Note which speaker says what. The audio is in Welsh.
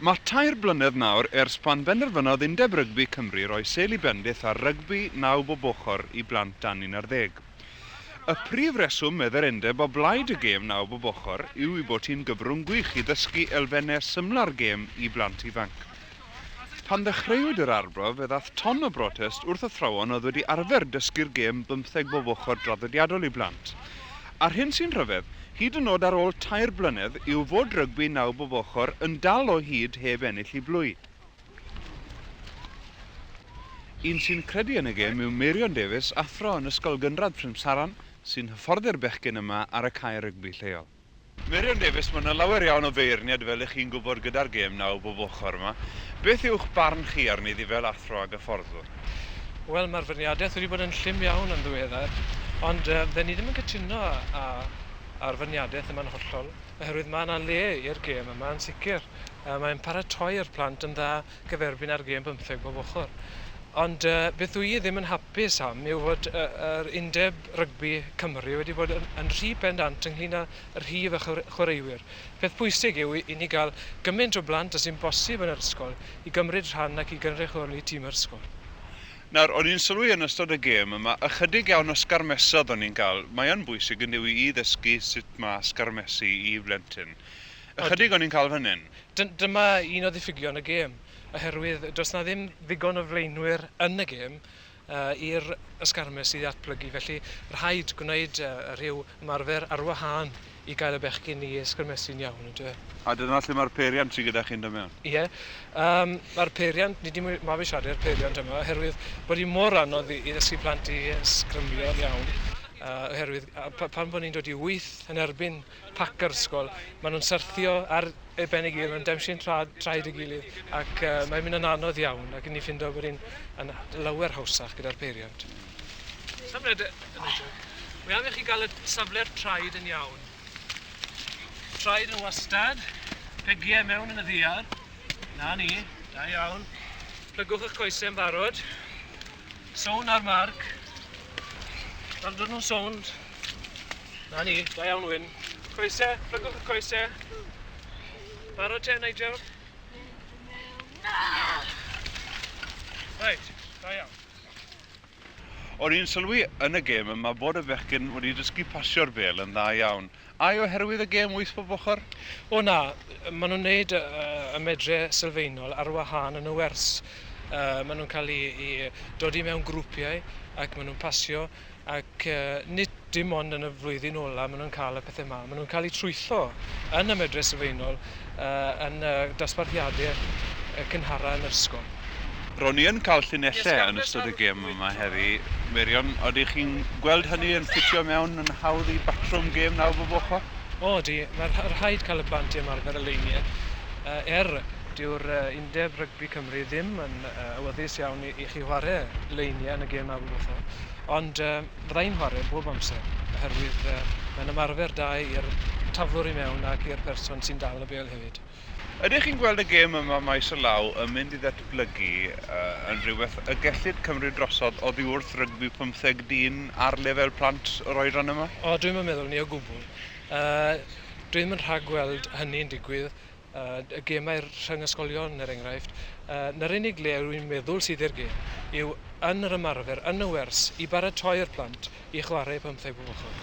Speaker 1: Mae tair blynedd nawr ers pan benderfynodd Undeb Rygbi Cymru roi sêl i bendith ar rygbi naw bob ochr i blant dan 11. Y prif reswm, medde'r undeb, o blaid y gêm naw bob ochr yw ei bod hi'n gyfrwng gwych i ddysgu elfennau symlau'r gêm i blant ifanc. Pan ddechreuwyd yr arbrawf fe ddaeth ton o brotest wrth athrawon oedd wedi arfer dysgu'r gêm bymtheg bob ochr draddodiadol i blant. A'r hyn sy'n rhyfedd, hyd yn nod ar ôl tair blynedd, yw fod rygbi naw bob ochr yn dal o hyd heb ennill i Blwy. Un sy'n credu yn y gêm yw Meirion Davies, athro yn Ysgol Gynradd Prymsaran, sy'n hyfforddi'r bechgyn yma ar y cae rygbi lleol. Meirion Davies, Mae yna lawer iawn o feirniad fel y'ch chi'n gwybod gyda'r gêm naw bob ochr yma. Beth yw'ch barn chi arni iddi fel athro ag hyfforddwr? Wel, mae'r feirniadaeth wedi bod yn llym iawn yn ddiweddar, ond fydden ni ddim yn cytuno â'r feirniadaeth yma'n hollol, oherwydd mae yna le i'r gêm yma yn sicr. Mae'n paratoi'r plant yn dda gyferbyn â'r gêm bymtheg bob ochr. Ond beth wy i ddim yn hapus am yw fod yr Undeb Rygbi Cymru wedi bod yn rhy bendant ynglŷn â rhif y chwaraewyr. Peth pwysig yw i ni gael gymaint o blant â sy'n bosib yn yr ysgol i gymryd rhan ac i gynrychioli tîm yr ysgol. Nawr, o'n i'n sylwi yn ystod y gêm yma ychydig iawn o sgarmesodd o'n i'n cael. Mae yn bwysig, yndyw i, i ddysgu sut mae sgarmesu i blentyn. Ychydig o'n i'n cael fan hyn. Dyma un o ddiffygion y gêm oherwydd does 'na ddim ddigon o flaenwyr yn y gêm i'r ysgarmes i ddatblygu felly rhaid gwneud rhyw ymarfer ar wahân i gael y bechgyn i ysgrymesu'n iawn on'd yw e? A dyna lle mae'r peiriant sy gyda chi'n dod mewn? Ie yym mae'r peiriant, ni 'di mabwysiadu'r peiriant yma oherwydd bod hi mor anodd i ddysgu plant i ysgrymio'n iawn oherwydd pan bo' ni'n dod i wyth yn erbyn pac yr ysgol. Maen nhw'n syrthio ar eu ben ei gilydd, maen nhw'n demsiwn tra, traed ei gilydd ac uh, mae'n mynd yn anodd iawn ac yn ni ffindo bod ni'n lawer hawsach gyda'r peiriant. Safle yn Mae angen chi gael y safle'r traed yn iawn. Traed yn wastad, pegiau mewn yn y ddiar. Na ni, da iawn. Plygwch eich coesau yn barod. Sown ar marc. Fel dod nhw'n sown, Na ni, da iawn Wyn. Coese, plygwch y coese. Barod te, Nigel? Reit, da iawn. O'n i'n sylwi yn y gêm yma bod y bechgyn wedi dysgu pasio'r bêl yn dda iawn. Ai oherwydd y gêm wyth bob ochr? O na, maen nhw'n neud y, y medre sylfaenol ar wahân yn y wers. Uh, maen nhw'n cael ei, ei dodi mewn grwpiau ac maen nhw'n pasio Ac nid dim ond yn y flwyddyn ola' ma' nhw'n cael y pethe 'ma, ma' nhw'n cael eu trwytho yn y medre sylfaenol yn y dosbarthiade cynhara yn yr ysgol. Ro'n i yn cael llinellau yn ystod y gêm yma heddi, Meirion, odych chi'n gweld hynny yn ffitio mewn yn hawdd i batrwm gêm nawr bob ochr? O ydi, ma' rhaid cael y plant i ymarfer y leiniau er dyw'r Deb rygbi Cymru ddim yn awyddus iawn i i chi whare leiniau yn y gêm a wybwtho ond fydda i'n whare bob amser oherwydd mae'n ymarfer da i'r taflwr i mewn ac i'r person sy'n dal y bêl hefyd. Ydych chi'n gweld y gêm yma maes o law yn mynd i ddatblygu yn rhywbeth y gellid cymryd drosodd oddi wrth rygbi pymtheg dyn ar lefel plant yr oedran yma? O dwi'm yn meddwl 'ny o gwbwl. Dwi'm yn rhagweld hynny'n digwydd. y gemau rhyng ysgolion er enghraifft, yy 'na'r unig le rwy i'n meddwl sydd i'r gêm yw yn yr ymarfer, yn y wers, i baratoi'r plant i chwarae pymtheg bob ochr.